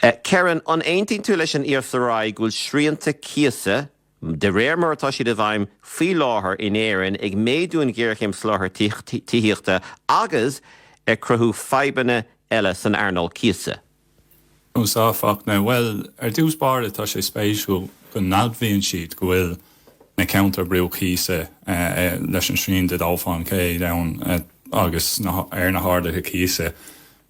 Kerron, An aontaíonn tú leis an ESRI go bhfuil srianta cíosa, de réir mar atá siad i bhfeidhm faoi láthair in Éirinn, ag méadú an ghéarchéim soláthair tithíochta agus ag cruthú fadhbanna eile san earnáil cíosa? Ó sea, a Fhachtna, Bhuel, ar dtús báire tá sé spéisiúil go n-admhaíonn siad go bhfuil na ceantair brú cíosa leis an srian de dhó faoin gcéad ann agus ar na harduithe cíosa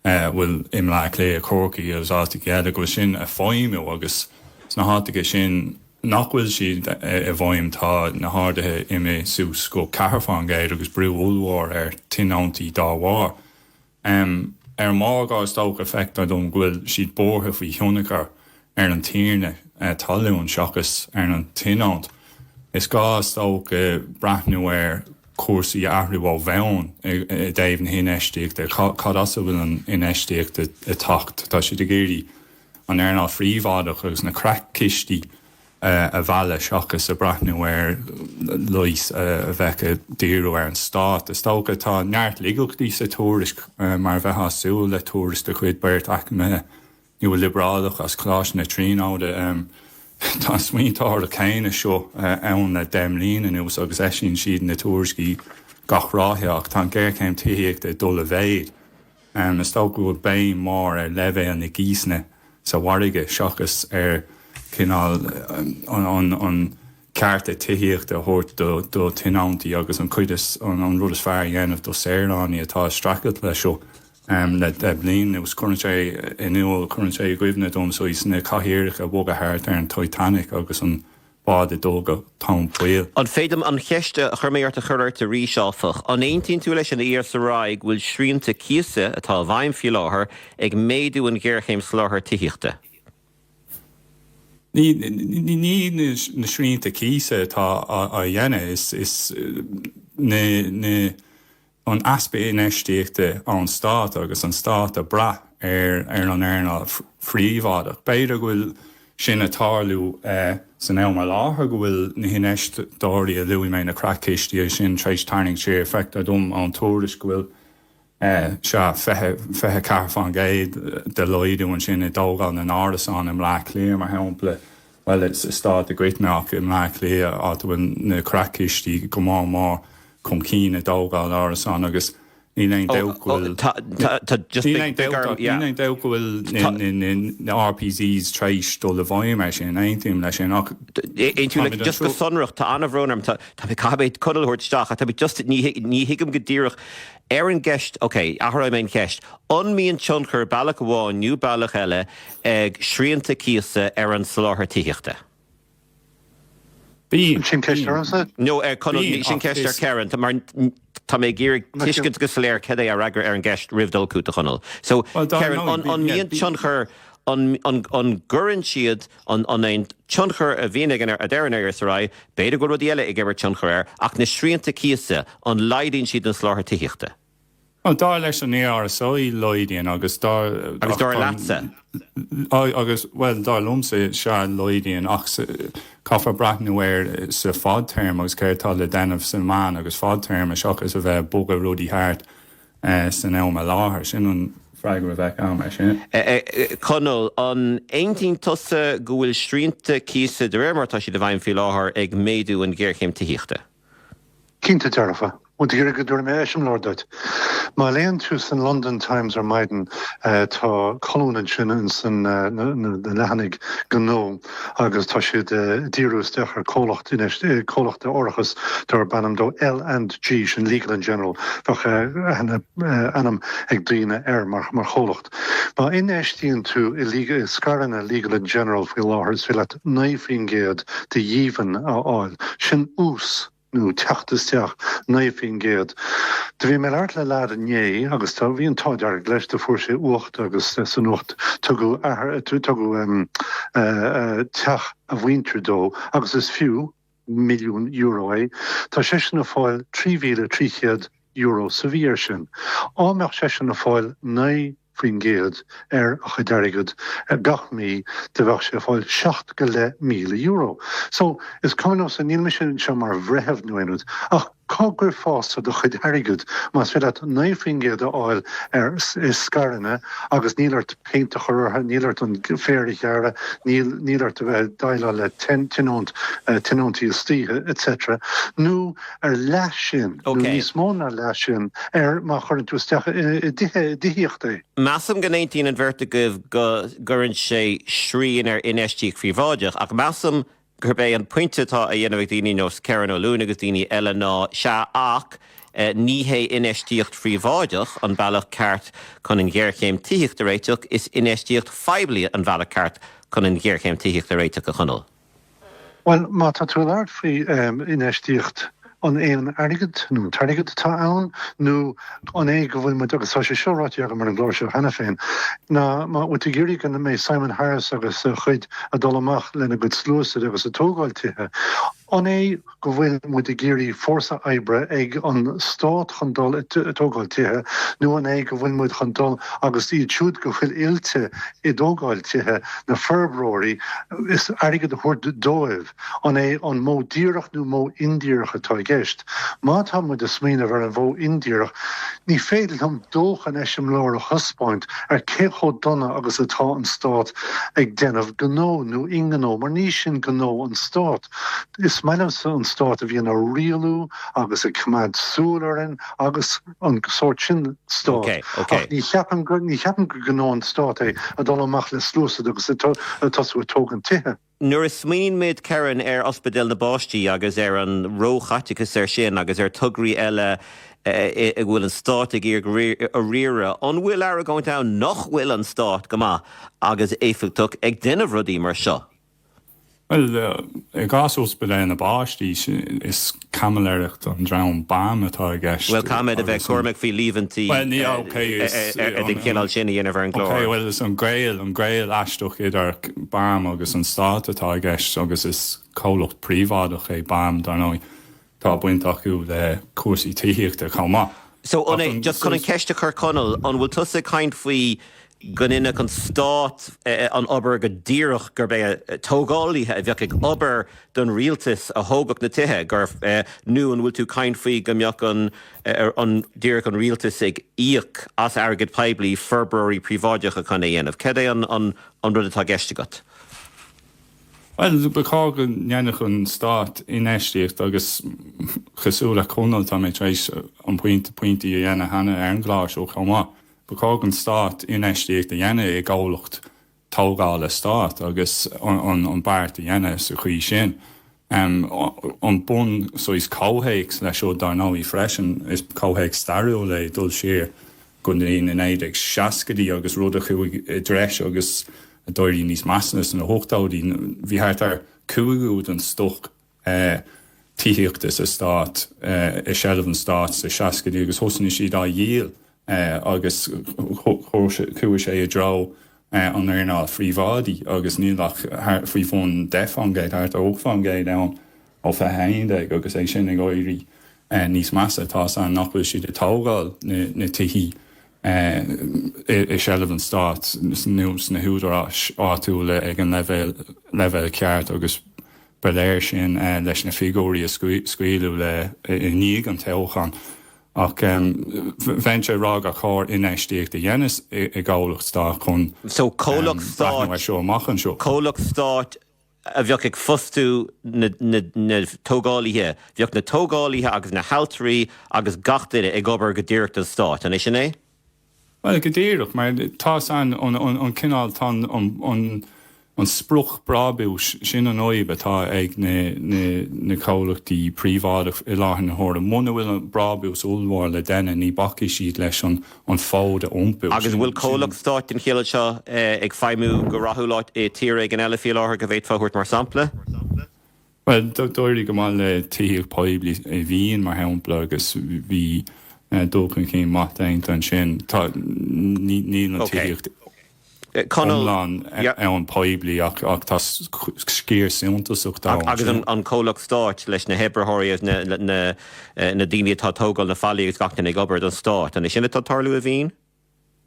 a bhfuil i mBleá Cliath, Corcaigh agus áiteacha eile, go bhfuil sin ag feidhmiú agus sna háiteacha sin nach bhfuil siad i bhfeidhm tá na harduithe imithe suas go ceathair faoin gcéad agus brú ollmhór ar tionóntaí dá bharr. Ar an mórgóir is dócha feictear dom go bhfuil siad buartha faoi thionchar ar an tiarna talún seachas ar an tionónta. Is gá is dócha breathnú ar chúrsaí a athrú ó bhonn i dtaobh na hinfheistíochta. Cad as a bhfuil an infheistíocht ag teacht? Tá siad ag iarraidh an earnáil phríobháideach agus na creach-chistí a mhealladh seachas a breathnú ar leigheas a bheadh ag díriú ar an stát. Is dócha tá neart laigeachtaí sa tuairisc mar a bheifeá ag súil le tuairisc de chuid beirt eacnamaithe. Nua-liobrálach as Coláiste na Tríonóide. Tá an smaointeoireacht chéanna seo ann le deich mbliana anuas agus eisíonn siad na tuairiscí gach ráithe ach tá an ghéarchéim tithíochta ag dul i mhéid. Is dócha go bhfuil béim mhór ar leibhéal na gcíosanna sa mhargadh seachas ar chineál an chearta tithíochta a thabhairt do thionóntaí agus an chuid is an rud is fearr a dhéanamh do shaoránaigh atá ag streachailt leis seo. am le deich mbliana anuas. Cuireann sé in iúl, cuireann sé i gcuimhne domsa na cathaoireacha a bhogadh thart ar an Titanic agus an bád ag dul go tóin poill. An féidir liom an cheist a chuir mé ort a chur ort arís, áfach? An aontaíonn tú leis an ESRI go bhfuil srianta cíosa, atá i bhfeidhm faoi láthair, ag méadú an ghéarchéim soláthar tithíochta? Ní na srianta cíosa atá á dhéanamh, is na. an easpa infheistíochta ón stát agus an stát ag brath ar an earnáil phríobháideach. B'fhéidir go bhfuil sin ag tarlú san am i láthair, go bhfuil na hinfheisteoirí a luaigh mé, na creachchistí sin, tar éis tarraingt siar. Feictear dom ón tuairisc go bhfuil sea, 24 faoin gcéad de laghdú ansin i dtógáil na n-árasán i mBleá Cliath, mar shampla. Bhuel, sa stát i gcoitinne ach i mBleá Cliath áit a bhfuil na creachchistí go mór mór chun cinn i dtógáil árasán agus níl aon níl aon dabht go bhfuil na RPZs tréis dul i bhfeidhm ar sin, aontaím leis sin ach an aontaíonn tú, just go sonrach, tá an-bhrón orm, tá mé ag caithfidh Conall a thabhairt isteach ach tá mé just, ní ní thuigim go díreach ar an gceist, okay, athróidh mé an cheist, an mbíonn tionchar bealach amháin nó bealach eile ag srianta cíosa ar an soláthar tithíochta? Sin ceist ormsa? No, sin ceist ar Kerron, mar tá mé ag iarraidh tuiscint go soiléir cad é a fhreagra ar an gceist roimh dul chugat, a Chonaill. So, Kerron, an, an mbíonn tionchar, an, an, an gcuireann siad, an, an é an tionchar a bhíonn ag an, a deir an ESRI, b'fhéidir go bhfuil rudaí eile ag imirt tionchar air, ach na srianta cíosa, an laghdaíonn siad an soláthar tithíochta? Bhuel, dar leis an ESRI, laghdaíonn, agus dar. Agus dar leatsa? Agus, bhuel, dar liomsa, sea, laghdaíonn, ach caithfear breathnú air sa fadtéarma agus céard atá le déanamh sa mheán agus fadtéarma seachas a bheith ag bogadh rudaí thart san am i láthair. Sin an freagra a bheadh agam air sin. Conall, An aontaíonn tusa go bhfuil srianta cíosa, de réir mar atá siad i bhfeidhm faoi láthair, ag méadú an ghéarchéim tithíochta? Cinnte dearfa. Muid ag iarraidh go dtabharfaidh mé eiseamláir duit. Má léann tú san London Times ar maidin tá colún ansin ins na leathanaigh gnó agus tá siad ag díriú isteach ar comhlacht comhlacht árachais darb ainm dó L and G, sin Legal and General, bheadh ainm ag daoine air mar chomhlacht. Má infheistíonn tú i scaireanna Legal and General faoi láthair is féidir leat. 9% de dhíbhinn a fháil. Sin ús nó teacht isteach 9%. Do bhí mé ag labhairt le lad inné agus do bhí an t-ádh dearg leis, do fuair sé uacht agus san uacht tugadh a, tugadh teach a mhuintir dó agus is fiú, milliún euro é, tá seisean ag fáil €3,300 sa mhí air sin. Dá mbeadh seisean ag fáil 9 faoin gcéad ar a chuid airgead gach mí do bheadh sé ag fáil seacht go leith míle euro. So, is cuma liomsa, níl mise anseo mar bhreitheamh nó aon rud ach, Cá gcuirfeása do chuid airgead. Más féidir leat 9% a fháil ar scaireanna agus níl ort péint a chur orthu, níl ort an féar a ghearradh, níl níl ort a bheith ag déileáil le tionónt, tionóntaí istoíche, etc. Nó ar leath sin, nó níos mó ná leath sin, ar má chuireann tú isteach i dtithíocht é. Measaim go n-aontaíonn an bheirt agaibh go gcuireann sé srian ar infheistíocht phríobháideach, ach measaim gurb é an pointe atá á dhéanamh ag daoine ar nós Kerron Ó Luain agus daoine eile ná, sea ach ní hé infheistíocht phríobháideach an bealach ceart chun an ghéarchéim tithíochta a réiteach, is infheistíocht phoiblí an bealach ceart chun an ghéarchéim tithíochta a réiteach, a Chonaill. Bhuel, má tá tú ag labhairt faoi infheistíocht. An é an t-airgead nó an t-airgead atá ann nó an é go bhfuil muid, agus tá sé seo ráite agam ar an gclár seo cheana féin, ná bhfuil tú ag iarraidh go mbeidh Simon Harris agus a chuid ag dul amach lena gcuid sluasaid agus ag tógáil tithe? An é go bhfuil muid ag iarraidh fórsa oibre ag an stát chun dul ag tógáil tithe nó an é go bhfuil muid chun dul agus iad siúd go bhfuil oilte i dtógáil tithe, na forbróirí, is airgead a thabhairt dóibh? An é an modh díreach nó modh indíreach atá i gceist? Má tá muid ag smaoineamh ar an mhodh indíreach, ní féidir liom dóthain eiseamláir a thaispeáint ar cé chomh dona agus atá an stát ag déanamh gnó nó i ngnó mar ní sin gnó an stát. Is maith liomsa an stát a bhíonn ag rialú agus ag coimeád súil orainn agus an sórt sin stát ach ní cheapaim go gnó an stát é a dhul amach le sluasaid agus ag tosú ag tógaint tithe. Nuair a smaoinímid, Karen, ar Ospidéal na bPáistí agus ar an róchaiteachas air sin agus ar thograí eile a bhfuil an stát ag iarraidh a riaradh, an bhfuil argóint ann nach bhfuil an stát go maith agus éifeachtach ag déanamh rudaí mar seo? Bhuel, i gcás Ospidéal na bPáistí, is caimiléireacht an dream BAM atá i gceist. Bhuel, caithfimid a bheith cúramach faoi líomhaintí den chineál sin a dhéanamh ar an gclár. Ok, bhuel, is an gaol, an gaol aisteach idir BAM agus an stát atá i gceist agus is comhlacht príobháideach é BAM, dar ndóigh. Tá baint acu le cúrsaí tithíochta chomh maith. So, an é, just chun an cheist a chur Conall, an bhfuil tusa ag caint faoi go ndéanfadh an stát an obair go díreach, gurb é tógálaithe a bheadh ag obair don rialtas a thógfadh na tithe, nó an bhfuil tú ag caint faoi go mbeadh an díreach an rialtas ag íoc as airgead poiblí forbróirí príobháideacha chun é a dhéanamh? Cad é an rud atá i gceist agat? Bhuel, ba chóir go ndéanfadh an stát infheistíocht agus cosúil le Conall tá mé tar éis an pointe a dhéanamh cheana ar an gclár seo chomh maith. Ba chóir don stát infheistíocht a dhéanamh i gcomhlacht tógála stáit agus an beart a dhéanamh sa chaoi sin. An bun, saghas comhthéacs leis seo? Dar ndóigh freisin is comhthéacs stairiúil ag dul siar go dtí na 1960idí agus rud a chuaigh i dtreis agus a d'éirigh níos measa sna hochtóidí. Bhí thart ar cúigiú den stoc tithíochta sa stát, i seilbh an stáit sna seascaidí agus thosaigh siad á dhíol agus chuaigh sé i dtreo an earnáil phríobháidí agus níl ach faoi bhun deich fán gcéad, thart ar ocht fán gcéad ann ó fiche a haon déag agus é sin ag éirí níos measa. toisc nach bhfuil siad ag tógáil na tithe i seilbh an stáit nó sna húdaráis áitiúla ag an leibhéal ceart agus Ba léir sin leis na figiúirí a scaoileadh i ndiaidh an toghcháin. Ach bhíonn sé ag rá gur chóir infheistíocht a dhéanamh i gcomhlacht stáit chun breathnú air seo amach anseo. Comhlacht stáit a bheadh ag fostú na tógálaithe. Bheadh na tógálaithe agus na hailtirí agus gach duine ag obair go díreach don stát, an é sin é? Bhuel, go díreach, mar tá san an cineál, tá an sprioc brabúis sin an fhadhb atá ag na comhlachtaí príobháideach i láthair na huaire. Muna bhfuil an brabús ollmhór le déanamh ní bhacfaidh siad leis an fód a iompú. Agus an bhfuil comhlacht stáit den chineál seo ag feidhmiú go rathúil i tír éigin eile, fé láthair, go bhféadfá a thabhairt mar sampla? Bhuel, d'éirigh go maith le tithíocht poiblí i Vín, mar shampla, agus bhí dul chun cinn maith déanta ansin. Níl an tithíocht go hiomlán ann poiblí ach tá sciar suntasach de. Agus an comhlacht stáit leis na hoibritheoirí, na daoine atá ag tógáil na fallaí agus gach duine ag obair don stát, an é sin atá ag tarlú i Vín?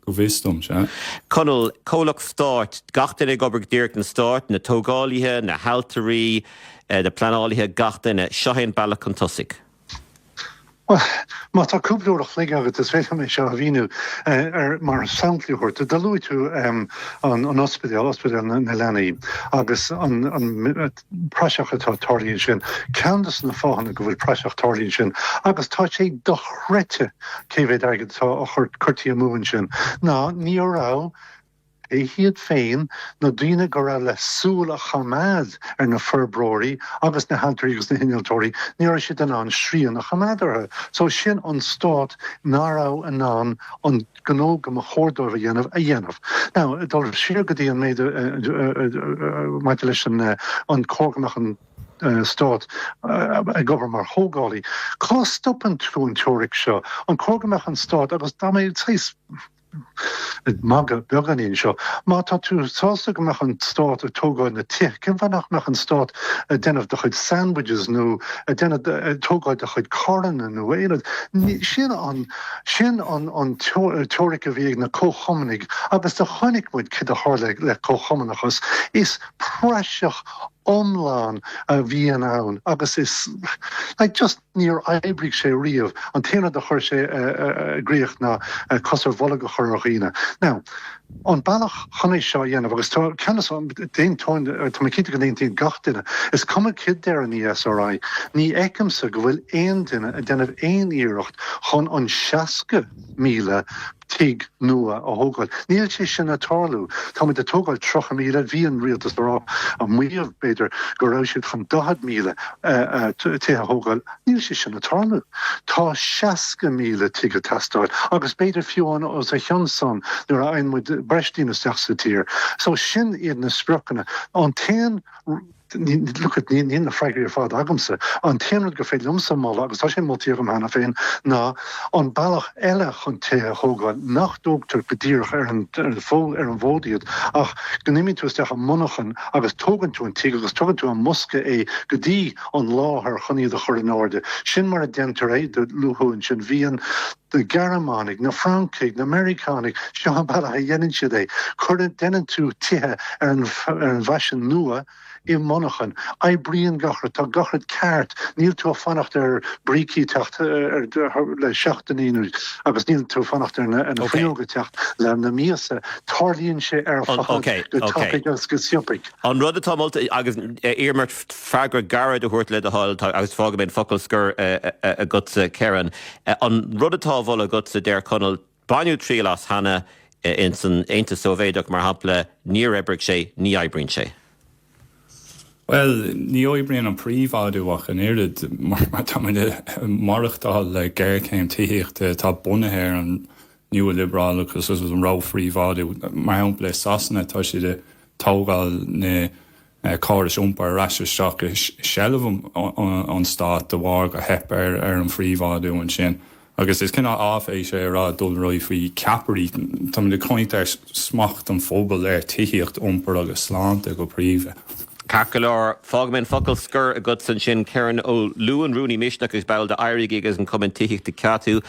go bhfios dom, sea. Conall, Comhlacht Stáit, gach duine ag obair go díreach don Stát, na tógálaithe, na hailtirí, na pleanálaithe, gach duine. Seo é an bealach chun tosaigh. Bhuel, má tá cúpla uair a chloig agat is féidir liom é seo a mhíniú mar sampla a thabhairt. Do luaigh tú an ospidéal, Ospidéal na Leanaí, agus an praiseach atá tarlaithe ansin. Ceann de na fáthanna go bhfuil praiseach tarlaithe ansin, agus tá sé dochreidte cé mhéad airgead atá curtha amú ansin, ná ní raibh, pé hiad féin, na daoine go raibh le súil a choimeád ar na forbróirí agus na hailtirí agus na hinnealtóirí, ní raibh siad in ann srian a choimeád orthu. So sin an Stát nach raibh in ann an gnó go mba chóir dóibh a dhéanamh a dhéanamh. Now, ag dul siar go dtí an méid maidir leis an an cóir go mbeadh an Stát ag obair mar thógálaí, cá stopann tú an teoiric seo? An cóir go mbeadh an Stát agus tá mé saghas ag magadh beagáinín anseo, má tá tú sásta go mbeadh an Stát ag tógáil na tithe, cén fáth nach mbeadh an Stát ag déanamh do chuid sandwiches nó ag déanamh ag tógáil do chuid carranna nó aon rud? Sin an Sin an teoiric a bhí ag na comhchumannaigh agus do chonaic muid cad a tharla le comhchumannachas, is praiseach iomlán a bhíonn ann agus is just níor oibrigh sé riamh, an t-aon rud a chuir sé i gcríoch ná cos ar bholg a chur ar dhaoine. Now, An bealach chun é seo a dhéanamh, agus tá ceannas d'aon tuin, tá mé cinnte go n-aontaíonn gach duine, is cuma céard a deir an ESRI, ní fheicimse go bhfuil aon duine ag déanamh aon iarracht chun an 60,000 tigh nua a thógáil. Níl sé sin ag tarlú. Táimid ag tógáil 30,000, bhí an rialtas ag rá, ag maíomh b'fhéidir, go raibh siad chun 40,000 tithe a thógáil, Níl sé sin ag tarlú. Tá 60,000 tigh ag teastáil agus b'fhéidir fiú amháin os a chionn san nuair a fhaigheann muid breis daoine isteach sa tír. So sin iad na spriocanna. An t-aon look it níl na freagraí ar fad agamsa. An t-aon rud gur féidir liomsa moladh agus tá sé molta agam cheana féin ná an bealach eile chun tithe a thógáil nach dtógtar go díreach ar an bhfód iad ach go n-imíonn tú isteach i monarchan agus tógann tú an tigh agus tugann tú ar an mbosca é go dtí an láthair chun iad a chur in airde. Sin mar a déantar é de luathú ansin. Bhíonn na Gearmánaigh, na Francaigh, na Meiriceánaigh, seo an bealach a dheineann siad é. Cuir, deineann tú tithe ar an, ar an bhfaisean nua i monarchan. Oibríonn gach rud, tá gach rud ceart. Níl tú a' fanacht ar brící teacht le seachtainí nó, agus níl tú a' fanacht ar na, ar na fuinneoga teacht le, le míosa. Tarlaíonn sé ar fad go tapaidh agus go sciobtha. An rud atá molta, agus iarraim ort freagra gairid a thabhairt le do thoil agus fágfaidh mé an focal scoir agatsa Kerron. An rud atá á mholadh agatsa deir Conall, baineadh triail as cheana ins an Aontas Sóibhéideach mar shampla, níor oibrigh sé, ní oibríonn sé. Bhuel, ní oibríonn an príobháidiú ach an oiread mar tá muid ag maireachtáil le géarchéim tithíochta atá bunaithe ar an nualiobrálachas agus an róphríobháidiú. Mar shampla i Sasana tá siad ag tógáil na. na córais iompair ar ais isteach i seilbh an stáit de bharr gur theip ar an phríobháidiú ansin. Agus is cineál áiféis é a rá Conall ráidh faoi cheapairí, táimid ag caint ar smacht an phobail ar tithíocht, iompar agus sláinte go príomha. Ceart go leor, fágfaidh mé an focal scoir agatsa ansin. Kerron Ó Luain, Rúnaí Misneach agus ball de Éirígí agus an Cumann Tithíochta CATU.